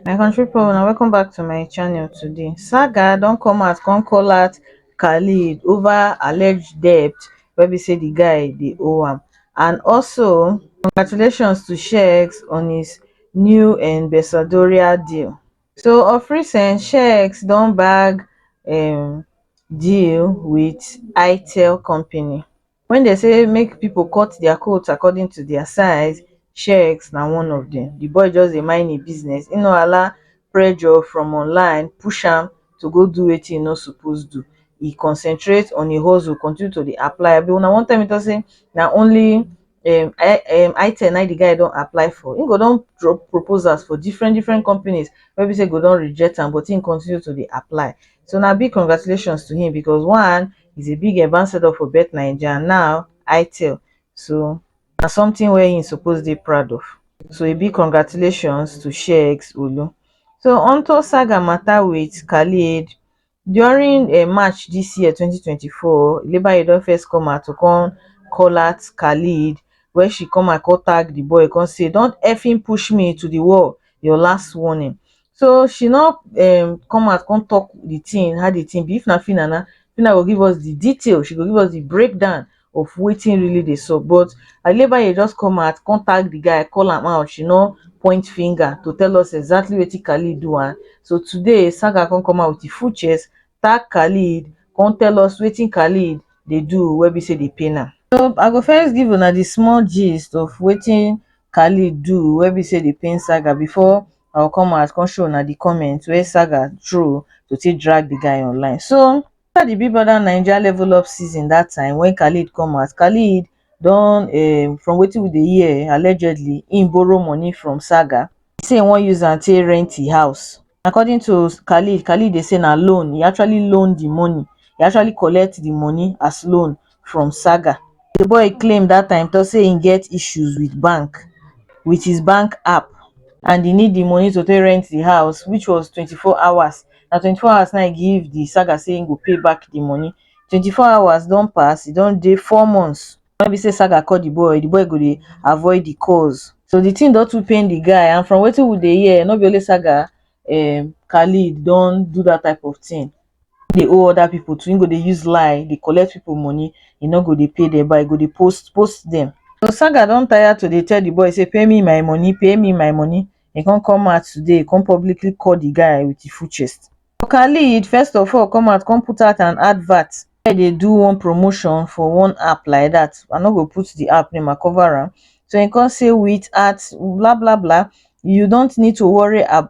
my country people na welcome back to my channel today saga don come out come call out khalid over alleged debt wey be say the guy dey owe am and also congratulations to shex on his new ambassadorial deal so of recent checks don bag um deal wit itel company wey dem say make pipo cut dia coat according to dia size checks na one of dem di boy just dey mind im business im no allow pressure from online push am to go do wetin im no suppose do e concentrate on im hustle continue to dey apply abi una wan tell me talk say na only um i um i ten na im the guy don apply for im go don drop proposals for different different companies wey be say go don reject am but im continue to dey apply so na big congratulations to him because one is a big ambassador for bet naija and now itel so na something wey him suppose dey proud of so a big congratulations to sheyx olu so onto saga matter with khalid during um march dis year twenty twenty four ilebaye don first come out to come call out khailed wen she come out come tag di boy come say don effing push me into di wall your last warning so she no um come out come talk di tin how di tin be if na phyna na phyna go give us di detail she go give us di breakdown of wetin really dey sup but Adebayo just come out come tag the guy call am out she no point finger to tell us exactly wetin Khalid do am so today Saga come come out with e full chest tag Khalid come tell us wetin Khalid dey do wey be say dey pain am. So I go first give una the small gist of wetin Khalid do wey be say dey pain Saga before I go come out come show una the comment wey Saga throw to take drag the guy online so Afta di Big Brother Naija Level Up season dat time wen Khalid come out, Khalid don um from wetin we dey hear allegedly im borrow money from Saga, e say e wan use am take rent e house. According to Khalid, Khalid dey say na loan, e actually loan di money, e actually collect di money as loan from saga the boy claim that time talk say he get issues with bank with his bank app and he need the money to take rent the house which was 24 hours na 24 hours na he give the saga say he go pay back the money 24 hours don pass e don dey four months when be say saga call the boy the boy go dey avoid the calls so the thing don too pain the guy and from wetin we dey hear no be only saga um khalid don do that type of thing dey owe other people too, him go dey use lie dey collect people money, he no go dey pay them but he go dey post post them. So Saga don tire to dey tell the boy say pay me my money, pay me my money, he come come out today, he come publicly call the guy with him full chest. So Khalid first of all come out come put out an advert, the guy dey do one promotion for one app like that, I no go put the app name I cover am, so he come say with at blah blah blah you don't need to worry ab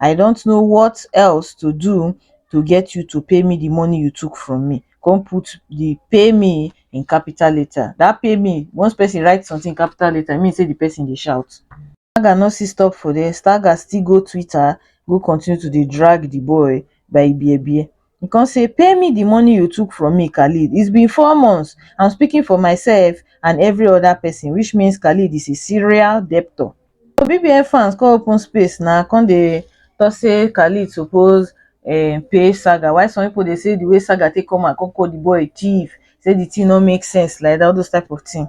i dont know what else to do to get you to pay me the money you took from me come put the pay me in capital letter that pay me once person write something capital letter e mean say the person dey shout Stagger no still stop for there, Stagger still go Twitter go continue to dey drag the boy by ibiebie. He come say pay me the money you took from me Khalid it's been four months I'm speaking for myself and every other person which means Khalid is a serial debtor. So BBN fans come open space na come dey talk say Khalid suppose um, pay Saga why some people dey say the way Saga take come and come call the boy thief say the thing no make sense like that all those type of thing.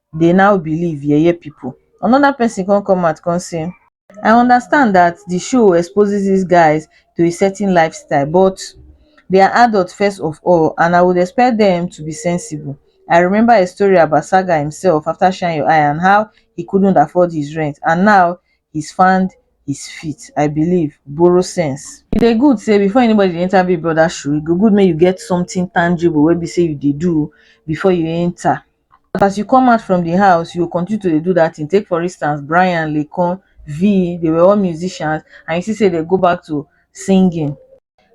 dey now believe yeye people another person come come out come say i understand that the show exposes this guys to a certain lifestyle but they are adult first of all and i would expect them to be sensible i remember a story about saga himself after shine your eye and how he couldn't afford his rent and now he's found his feet i believe borrow sense e dey good say before anybody dey enter big brother shoe e go good make you get something tangible wey be say you dey do before you enter but as you come out from di house you go continue to dey do dat tin take for instance Bryan, Laycon, Vee dey were all musicians and you see say dem go back to singing.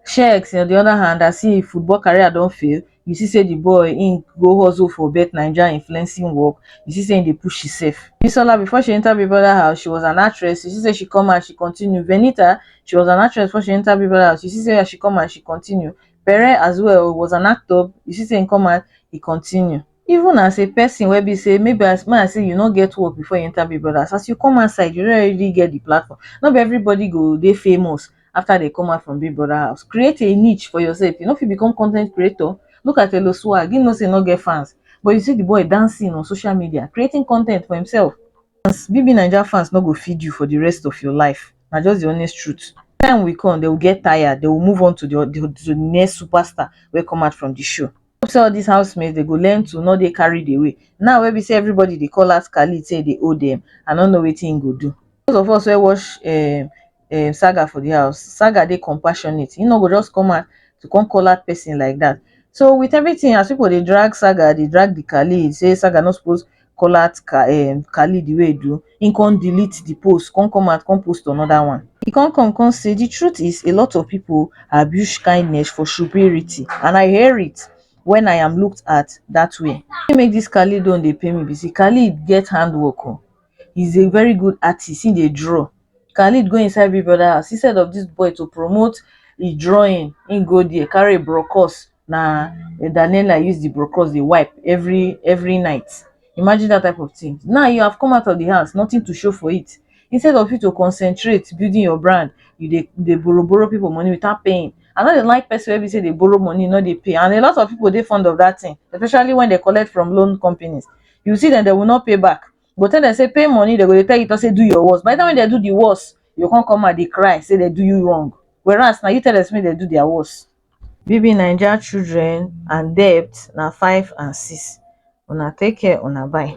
Shex on di oda hand as im football career don fail you see say di boy im go hustle for BetNaija influencing work you see say im dey push imsef. Bisola before she enta Big Brother house she was an actress you see say she come out she continue, Venita she was an actress before she enta Big Brother house you see say as she come out she continue, Bere as well was an actor, you see say he come out, he continue. Even as a person wey be say maybe as man say you no get work before you enter Big Brothers, as you come outside, you already get the platform. No be everybody go dey famous after they come out from Big Brother house. Create a niche for yourself. You no fit become content creator. Look at Elo Swag. He know say he no get fans. But you see the boy dancing on social media, creating content for himself. As BBNaija fans no go feed you for the rest of your life. na just the honest truth. Time will come, they will get tired, they will move on to the, the, the next superstar wey come out from the show. Hope say all these housemates they go learn to not dey carried away. Now wey be say everybody dey call out Khalid say they owe them, I no know wetin him go do. Those of us wey watch um, um, Saga for the house, Saga dey compassionate. He no go just come out to come call out person like that. So with everything as people dey drag Saga, dey drag the Khalid, say Saga no suppose Kola Khalid wey e do, he come delete the post, come come out come post another one. He come come come say the truth is a lot of people abuse kindness for shuberity and I hear it when I am looked at that way. Wetin make this Khalid own dey pain me be say Khalid get handwork o, he is a very good artist, he dey draw. Khalid go inside Big Brother house instead of this boy to promote his drawing, he go there carry brochures na Daniela use the brocos dey wipe every every night. Imagine that type of thing. Now you have come out of the house, nothing to show for it. Instead of you to concentrate building your brand, you dey dey borrow borrow people money without paying. I no dey like person wey be say dey borrow money, no dey pay. And a lot of people dey fond of that thing, especially when they collect from loan companies. You see them, they will not pay back. You go tell them say pay money, they go dey tell you to say do your worst. By the time when they do the worst, you go come come out dey cry, say they do you wrong. Whereas na you tell them say make they do their worst. BBNaija children and debt na five and six, una take care una bye.